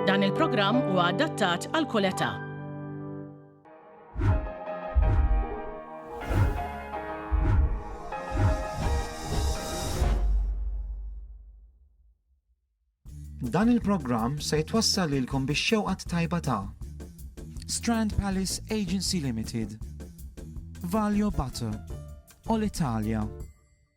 Dan il-programm huwa adattat għal kull età. Dan il-programm se jitwassal lilkom biex xewqat tajba ta' Strand Palace Agency Limited, Valio Butter, All Italia,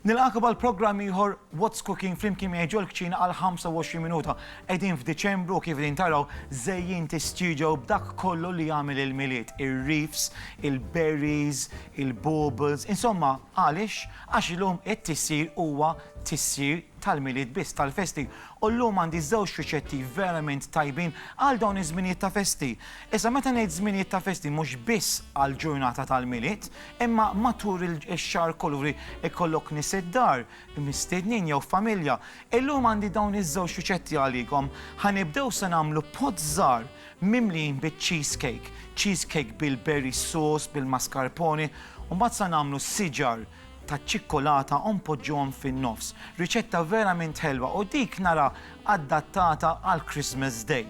Nilqakom għal programm ieħor What's Cooking flimkien miegħi ġol-kċina għal 25 minuta. Qegħdin f'Diċembru kif din taraw żejjint is-studio b'dak kollu li jagħmel il-Milied, ir-reefs, il-berries, il-baubles, insomma għaliex? Għax illum it-tissir huwa tissir tal-Milied biss, tal-festi. U llum għandi żewġ riċetti verament tajbin għal dawn iż-żminijiet ta' festi. Issa meta ngħid żminijiet ta' festi mhux biss għall-ġurnata tal-Milied, Imma matul ix-xahar kollu li jkollok nies id-dar, mistiednin jew familja, illum għandi dawn iż-żewġ riċetti għalikom. Ħa nibdew se nagħmlu pot żgħar mimlijin biċ-cheesecake, cheesecake bil-berry sauce, bil-mascarpone, u mbagħad sa nagħmlu siġar taċ-ċikkolata u npoġġuhom fin-nofs. Riċetta verament ħelwa u dik nara adattata għall-Christmas Day.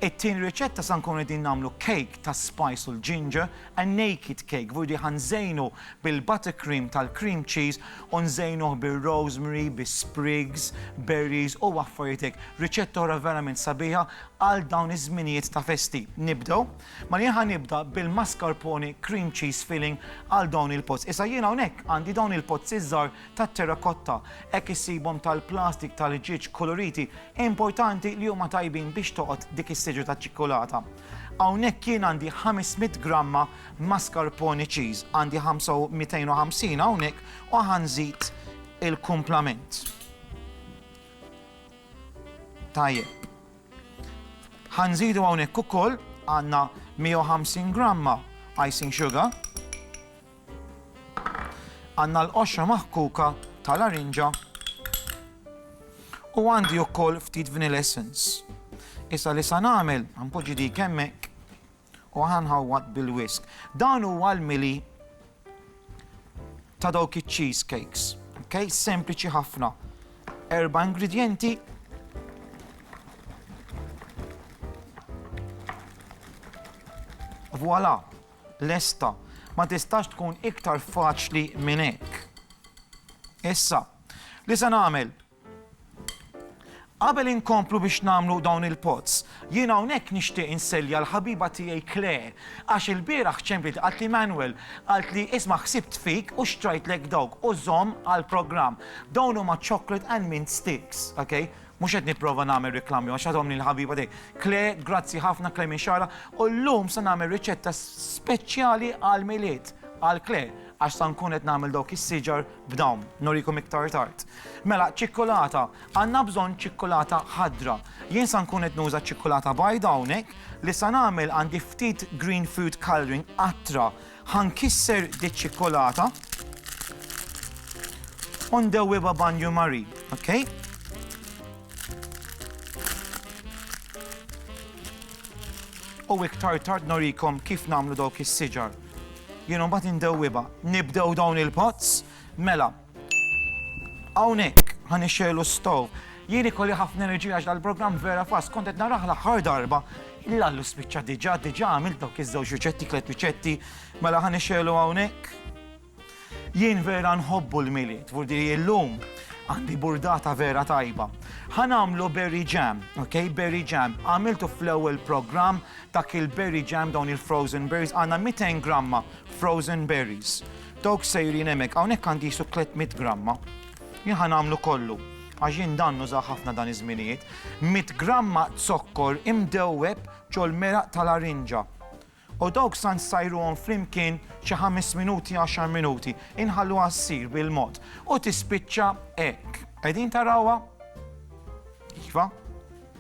It-tieni riċetta sa nkunu qegħdin nagħmlu cake tas-spice u l-ginger A naked cake, vurdi ħa nżejnu bil-buttercream tal-cream cheese u nżejnuh bir-rosemary, bis-sprigs, berries u affarijiet hekk. Riċetta oħra verament sabiħa għal dawn iż-żminijiet ta' festi. Nibdew? Mela jien ħa nibda bil-mascarpone cream cheese filling għal dawn il-pots. Issa jien hawnhekk għandi dawn il-pots iż-żgħar tat-terrakotta. Hekk issibhom tal-plastik tal-ġieġ koloriti. Importanti li huma tajbin biex toqgħod dik is-siġra taċ-ċikkulata. Hawnhekk jien għandi 500 gramma mascarpone cheese, għandi 250 hawnhekk u ħa nżid il-kumplament. Tajjeb. Ħa nżidu hawnhekk ukoll għandna 150 gramma icing sugar. Għandna l-qoxra maħkuka ta' larinġa u għandi wkoll ftit vanilla essence. Issa li sa nagħmel, ħanpoġġi dik hemmhekk u ħanħawwad bil-whisk. Dan huwa l-mili ta' dawk iċ-cheese cakes. Okay? Sempliċi ħafna. Erba' ingredjenti Voilà! lesta. Ma tistax tkun iktar faċli minn hekk. Issa, li se nagħmel? Qabel inkomplu biex nagħmlu dawn il-pots, jien hawnhekk nixtieq insellja l-ħabiba tiegħi Claire, għax il-bieraħ ċempliet qalt li Manuel, qalt li isma' ħsibt fik u xtrajtlek dawk u żomm għall-programm. Dawn huma chocolate and mint sticks, okay? Mhux qed nipprova nagħmel riklami għax għadhom li l-ħabiba tiegħi. Kle, grazzi ħafna Kle minn Xara, u llum se nagħmel riċetta speċjali għall-Milied għal Kle għax sa nkun qed nagħmel dawk is-siġar b'dawn. Nurikom iktar tard. Mela, ċikkulata. Għandna bżonn ċikkulata ħadra. Jien sa nkun qed nuża ċikkulata bajda hawnhekk li sa nagħmel għandi ftit green food colouring qatra Ħa nkisser diċ-ċikkolata u ndewwibha banju marin, okej? U iktar tard norikom kif nagħmlu dawk is-siġar. Jien imbagħad indewwibha. Nibdew dawn il-pots? Mela. Hawnhekk ħan ixxelu stow. Jien ikolli ħafna enerġija għax dal-programm vera fast kont qed naraħ l-aħħar darba il-lallu spiċċa diġà diġà għamil dawk iż-żewġ riċetti tliet riċetti mela ħan ixxelu hawnhekk. Jien vera nħobbu l-miliet, vurdi illum għandi burdata vera tajba. Ħan għamlu berry jam, ok, berry jam. Għamiltu fl-ewwel programm dak il-berry jam dawn il-frozen berries għandna 200 gramma frozen berries. Dawk sejrin hemmhekk, hawnhekk għandi qisu 300 gramma. Jien ħa nagħmlu kollu, għax jien dan nuża ħafna dan iż-żminijiet. 100 gramma zokkor imdewweb ġol-meraq tal-arinġa. U dawk sa nsajruhom flimkien xi ħames minuti, għaxar minuti. Inħalluha ssir bil-mod. U tispiċċa hekk. Qegħdin tarawha? Iva.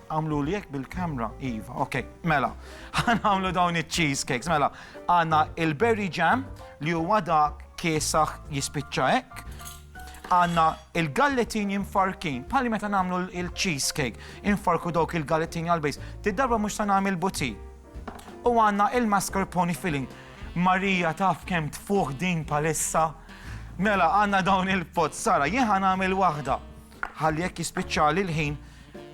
Għamlu li jek bil-kamra, Iva, ok, mela, għan għamlu dawn il-cheesecakes, mela, għanna il-berry jam li huwa da kiesaħ jispicċa ek, għanna il-galletin jinfarkin, pali meta namlu il-cheesecake, infarku dawk il-galletin għal-bejs, t-darba mux ta' namil buti. U għanna il-mascarpone filling. Marija taf kem tfuħ din palissa. Mela, għanna dawn il-pot, Sara, jieħan għamil wahda. Ħalli jekk jispiċċali l-ħin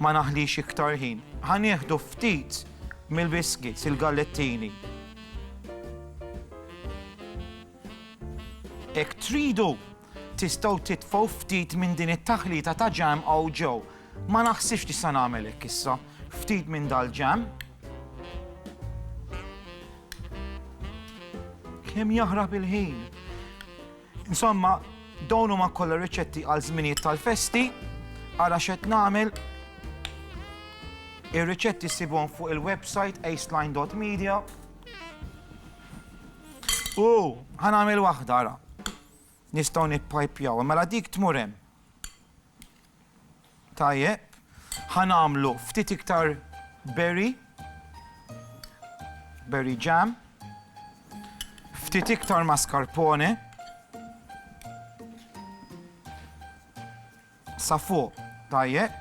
ma naħlix iktar ħin. Ħa nieħdu ftit mill-biscuits, il-gallettini. Hekk tridu, tistgħu titfgħu ftit minn din it-taħlita ta' ġam hawn ġew. Ma naħsibx tista' nagħmel hekk issa. Ftit minn dal-ġam. Kemm jaħrab il-ħin. Insomma, dawn huma kollha riċetti għal żminijiet tal-festi, ara x'qed nagħmel. Ir-riċetti ssibhom fuq il-website aceline.media. U ħanagħmel waħda ara. Nistgħu nippajpjaw, mela dik tmur hemm. Tajjeb. Ħa nagħmlu ftit iktar berry. Berry jam. Ftit iktar mascarpone. Sa fuq, tajjeb.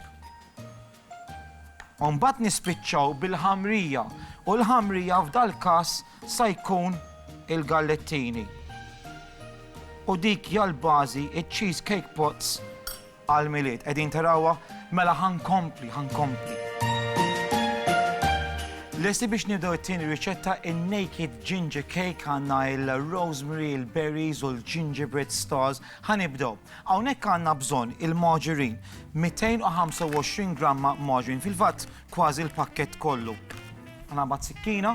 U mbagħad nispiċċaw bil-ħamrija, u l-ħamrija f'dal-każ sa jkun il-gallettini. U dik hija l-bażi iċ-cheese cake pots għall-Milied. Qegħdin tarawha? Mela ħankompli, ħankompli. Lesti biex nibdew it-tieni riċetta in-naked ginger cake għandna il-rosemary, il-berries u l-gingerbread stars. Ħanibdew. Hawnhekk għandna bżonn il-margarine, 225 gramma margarine, fil-fatt kważi l-pakkett kollu. Ħa naqbad sikkina.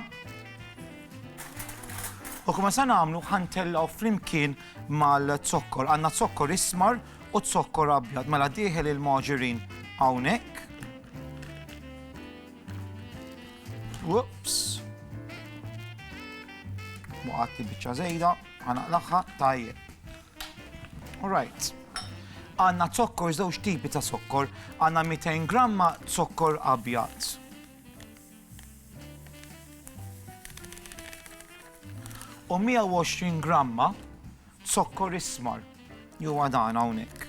U kif se nagħmlu ħa ntellgħu flimkien mal-zokkor. Għandna zokkor ismar u zokkor abjad. Mela dieħel il-margarine hawnhekk. Whoops. Waqgħet biċċa żejda, ħa naqlagħha tajjeb. All right. Għanna zokkor, żewġ tipi ta' zokkor. Għanna 200 gramma zokkor abjad. U 120 gramma zokkor ismar. Ju għadan hawnhekk.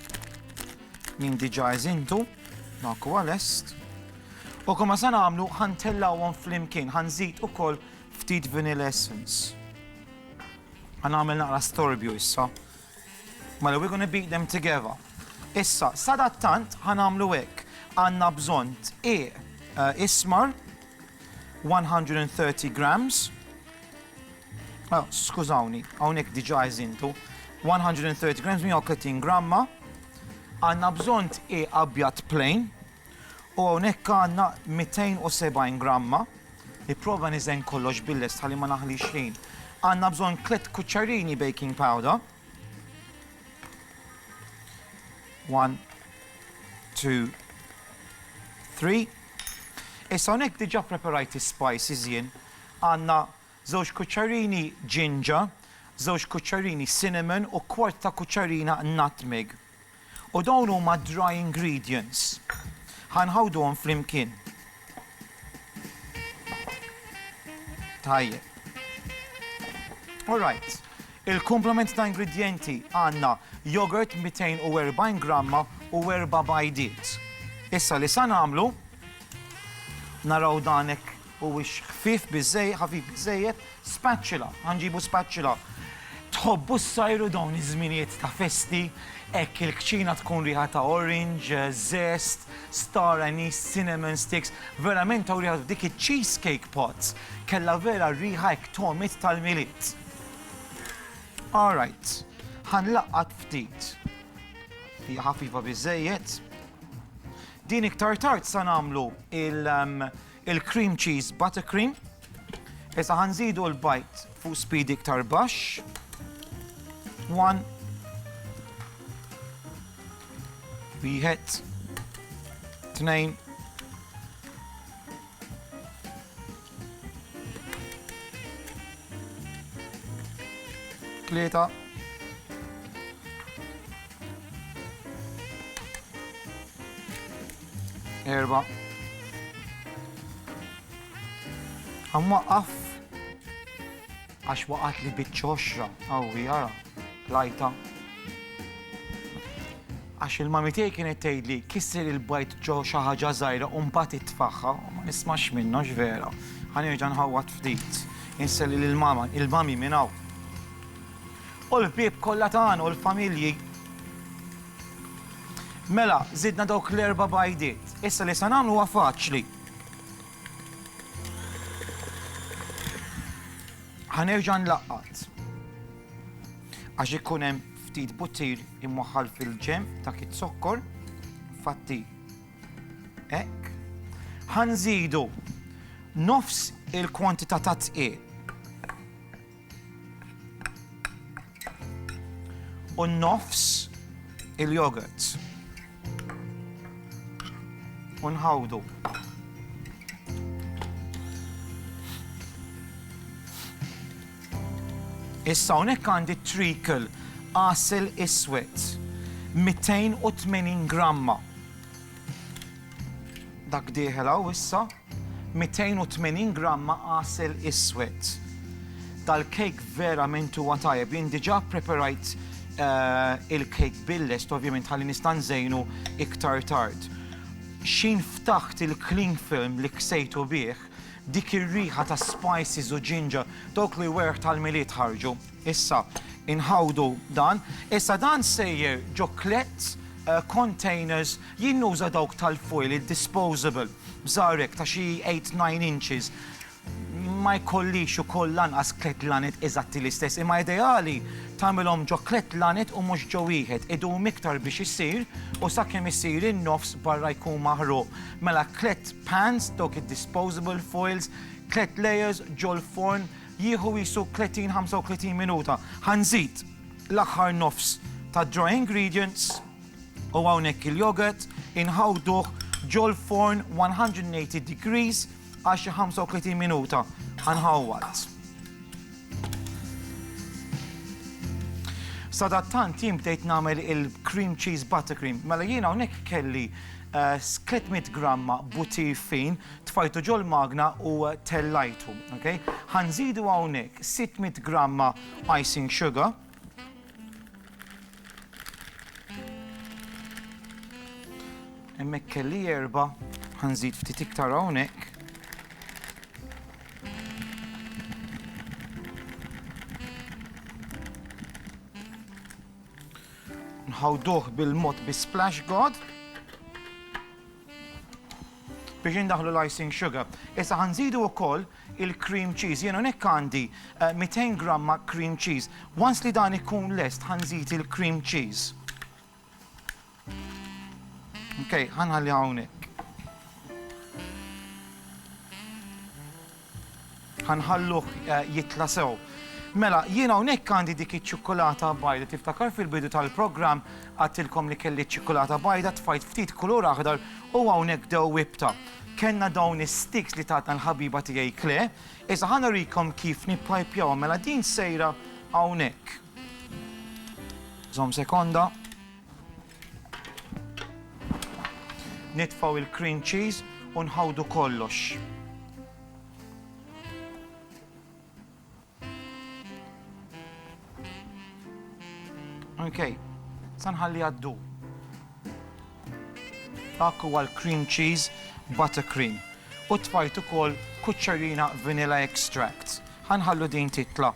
Min diġa eżintu, dak huwa lest. U kumma se nagħmlu ħantellawhom flimkien, ħanżid ukoll ftit vanilla essence. Ħa nagħmel naqra storbju issa. Mela we're gonna beat them together. Issa, sadattant ħa nagħmlu hekk. Għandna bżonn tqiq eh, ismar 130 grams. Oh, skużawni, hawnhekk diġà eżintu. 130 grams 130 gramma. Għandna bżonn tqiq abjad plain U hawnhekk għandna 270 gramma, nipprova niżen kollox bil-lest ħalli ma naħlix ħin. Għandna bżonn tliet kuċċarini baking powder. One, two, three. Issa hawnhekk diġà preparajt is-spices jien. Għandna żewġ kuċċarini ġinġa, żewġ kuċċarini cinnamon u kwart ta' kuċċarina nutmeg. U dawn huma d-dry ingredients. Ħa nħawduhom flimkien. Tajjeb. All right. Il-komplement ta' ingredjenti għandna yogurt 240 gramma u erba' bajdiet. Issa li sa nagħmlu naraw dan hekk Huwiex ħfief biżżejjed, ħafif biżżejjed, spatula, ħa nġibu spatula. Tħobbu ssajru dawn iż-żminijiet ta' festi, hekk il-kċina tkun riħa ta' orange, zest, star anise, cinnamon sticks, verament hawn riħa f'dik iċ-cheese cake pots, kellha vera r-riħa hekk togħmit tal-Milied. All right, ħa nlaqqat ftit. Hija ħafifa biżżejjed. Din iktar tard sa nagħmlu il- um, il-cream cheese buttercream. Issa ħa nżidu l-bajt fuq speed iktar baxx. One. Wieħed. Tnejn. Tlieta. Erba. Għam waqqaf. Għax waqat li bitċoxra, għawi għara, lajta. Għax il-mamitej kienet tgħidli kisser il-bajt ġo xi ħaġa żgħira u mbagħad itfaħħa, ma nismax minnha x'vera. Ħanerġa' nħawwat ftit. Inselli lil mama, il-mami minn hawn. U l-bieb kollha tagħna u l-familji Mela, żidna dawk l-erba' bajdiet. Issa li se nagħmlu huwa faċli. Ħa nerġa' nlaqqat. Għax ikun hemm ftit buttir imwaħħal fil-ġenb ta' kit zokkor, fatti hekk. Ħa nżidu nofs il-kwantità ta' tqiegħ. u nofs il-yogurt. U nħawdu. Issa hawnhekk għandi treacle għasel iswed 280 gramma. Dak dieħel hawn issa 280 gramma għasel iswed. Dal-kejk verament huwa tajjeb. Jien diġà preparajt eh, il-kejk billest, ovvjament ħalli nista' nżejnu iktar tard. Xin ftaħt il-cling film li ksejtu bih, dik ir-riħa ta' spices u ġinġa, dawk li werħ tal-miliet ħarġu. Issa inħawdu dan. Issa dan sejjer ġo klett containers jien nuża dawk tal-foil id-disposable b'żgħar hekk ta' xi eight, nine inches. Ma jkollix ukoll lanqas klett lanet eżatti l-istess imma ideali tagħmilhom ġo klett lanet u mhux ġo wieħed. Idum iktar biex isir u sakemm isir in-nofs barra jkun maħruq. Mela klett pans dawk id-disposable foils, klett layers ġol-forn Jieħu qisu 30, 35 minuta. Ħa nżid l-aħħar nofs tad-dry ingredients u hawnhekk il-yogurt, inħawduh ġol-forn 180 degrees għal xi 35 minuta. Ħa nħawwad. Sadattant jien bdejt nagħmel il-cream cheese buttercream. Mela jien hawnhekk kelli 300 eh, gramma butir fin, tfajtu ġol-magna u tellajtu. Okay? Ħanżidu hawnhekk 600 gramma icing sugar. Hemmhekk kelli erba' ħanżid ftit iktar hawnhekk. Nħawduh bil-mod bi splash god. biex indaħħlu l-icing sugar. Issa ħa nżidu wkoll il-cream cheese. Jien hawnhekk għandi 200 eh, gramma cream cheese. Once li dan ikun lest ħa nżid il-cream cheese. Ok, ħanħalli hawnhekk. Ħa nħalluh jitla' sew. Mela, jien hawnhekk għandi dik iċ-ċikkulata bajda. Tiftakar fil-bidu tal-programm għedtilkom li kelli ċ-ċikkulata bajda, tfajt ftit kulur aħdar u hawnhekk dewwibtha. Kellna dawn is-sticks li tatna l-ħabiba tiegħi Claire. Issa ħa nurikom kif nippajpjawhom. Mela din sejra hawnhekk. Żomm sekonda. Nitfgħu il-cream cheese u nħawdu kollox. Okay, sanħalli għaddu. Dak huwa l-cream cheese buttercream u tfajt ukoll kuċċerina vanilla extract. Ħanħallu din titla.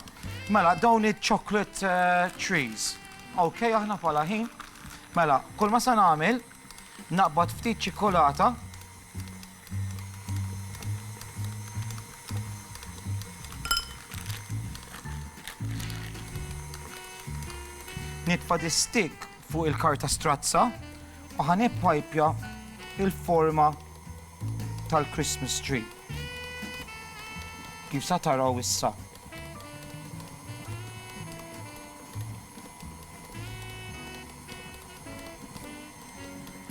Mela, dawn il-chocolate eh, trees. Ok aħna bħala ħin. Mela, kull ma se nagħmel naqbad ftit ċikkolata nitfa distik fuq il-karta strazza u ħanib pajpja il-forma tal-Christmas tree. Kif sa taraw issa.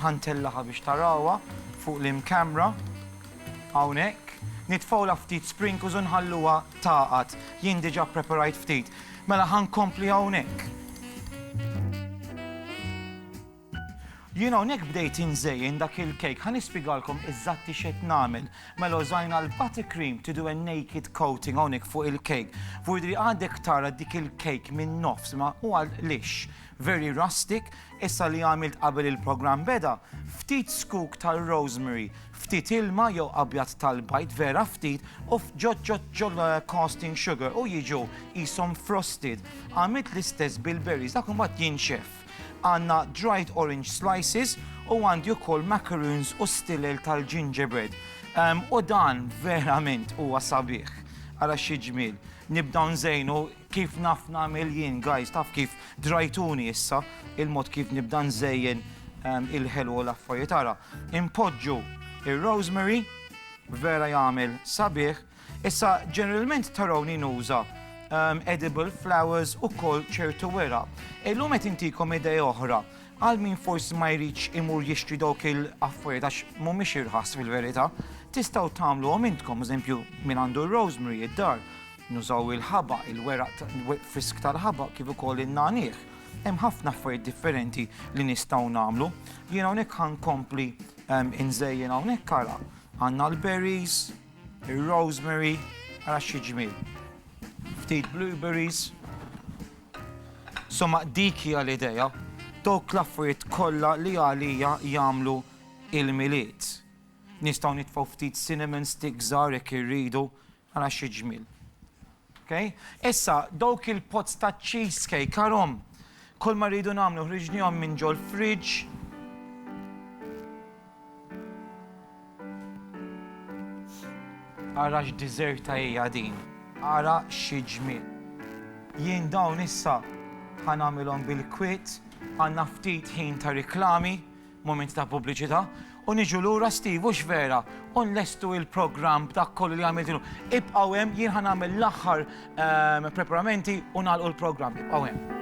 Ħantellaha biex tarawha fuq l-in camera hawnhekk. Nitfgħulha ftit sprinkles u nħalluha tagħqad. Jien diġà ppreparajt ftit. Mela ħankompli hawnhekk. Jien hawnhekk bdejt inżejjen dak il-kejk. Ħa nispjegalkom eżatti x'qed nagħmel. Mela użajna l-butter cream to do a naked coating hawnhekk fuq il-kejk. Vurdri għadek tara dik il-kejk min-nofs imma huwa lixx, very rustic. Issa li għamilt qabel il-programm beda, ftit scoop tar-rosemary, ftit ilma jew abjad tal-bajd vera ftit u ġġoġġ ġol caustic sugar u jiġu qishom frosted. Għamilt l-istess bil-berries dak imbagħad jinxef. Għandna dried orange slices u għandi wkoll macaroons u stilel tal-gingerbread. Ehm, u dan verament huwa sabiħ. Ara xi ġmiel. Nibdaw nżejnu kif naf nagħmel jien, guys, taf kif drajtuni issa il-mod kif nibda nżejjen ehm, il-ħelu u l-affarijiet. Ara, impoġġu ir-rosemary, vera jagħmel sabiħ, Issa, ġeneralment tarawni nuża ehm, edible flowers u kol ċertu wera. Illum qed intikom idea oħra għal min forsi ma jridx imur jixtri dawk il-affarijiet għax mhumiex irħas fil-verità, tistgħu tagħmlu għom intkom, eżempju, min għandu rosemary id-dar, nużaw il-ħaba, il-weraq frisk tal-ħaba kif ukoll in-nanih. Hemm ħafna affarijiet differenti li nistgħu nagħmlu. Jien hawnhekk ħankompli ehm, inżejjen hawnhekk ara. Għandna l-berries, Ir-rosemary, ara xi ġmiel. Ftit blueberries. Somma dik hija l-idea, dawk l-affarijiet kollha li għalija jagħmlu il-milied. Nistgħu nitfgħu ftit cinnamon stick żgħar jekk irridu, ara xi ġmiel. Okej? Issa, dawk il-pots ta' cheesecake, għarhom, kulma rridu nagħmlu ħriġnihom minn ġol-fridge. Ara x'diżerta hija din. Ara xi ġmiel. Jien dawn issa ħa nagħmilhom bil-kwiet, għandna ftit ħin ta' riklami, Mument ta' pubbliċità u niġu lura Steve hux vera u nlestu il-programm b'dak kollu li għamilt illum. Ibqgħu hemm jien ħa nagħmel l-aħħar ehm, preparamenti u nagħlqu l-programm. Ibqgħu hemm.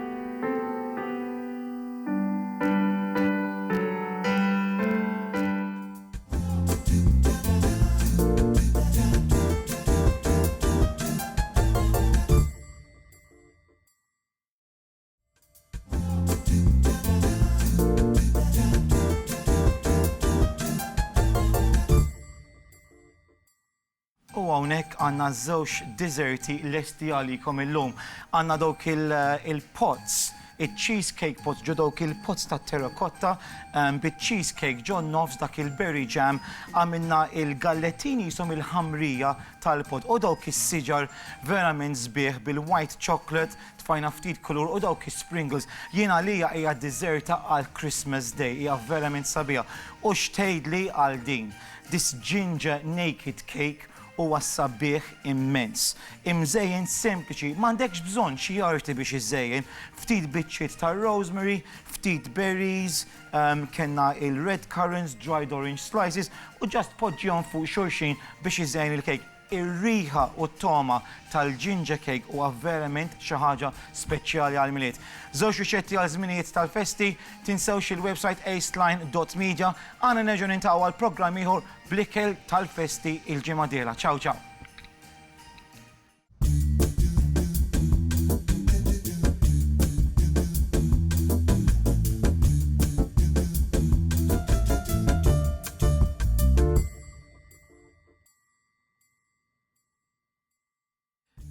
U hawnhekk għandna żewġ diżerti lesti għalikom illum. Għandna dawk il-pots, il-cheesecake pots ġo dawk il-pots ta' terrakotta ehm, bit-cheesecake ġo nofs dak il-berry jam għamilna il-gallettini jisom il-ħamrija tal-pot u dawk is-siġar verament sbieħ bil-white chocolate Tfajna ftit kulur u dawk is-sprinkles. Jien għalija hija d-diżerta għal Christmas Day, hija verament sabiħa. U x'tgħidli għal din? This ginger naked cake huwa sabiħ immens. Imżejjen sempliċi, m'għandekx bżonn xi arti biex iżżejjen. Ftit biċċiet ta' rosemary, ftit berries, ehm, kellna il-red currants, dried orange slices u ġast poġġihom fuq xulxin biex iżejjen il-cake. Ir-riħa u t-togħma tal-ginger cake huwa verament xi ħaġa speċjali għall-Milied. Żewġ riċetti għal żminijiet tal-festi, tinsewx il-website acetline dot media, għana nerġgħu niltaqgħu għal programm ieħor bl-ikel tal-festi il-ġimgħa d-dieħla. Ciao ciao.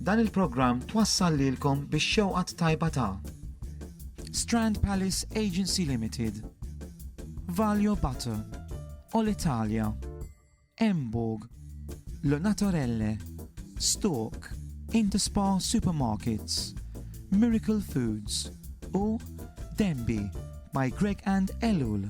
Dan il-programm twassal lilkom bix-xewqa t-tajba ta'. Strand Palace Agency Limited, Valio Butter, Olitalia, Emborg, Le Naturelle, Stork, Interspar Supermarkets, Miracle Foods u Denby by Greg and Ellul.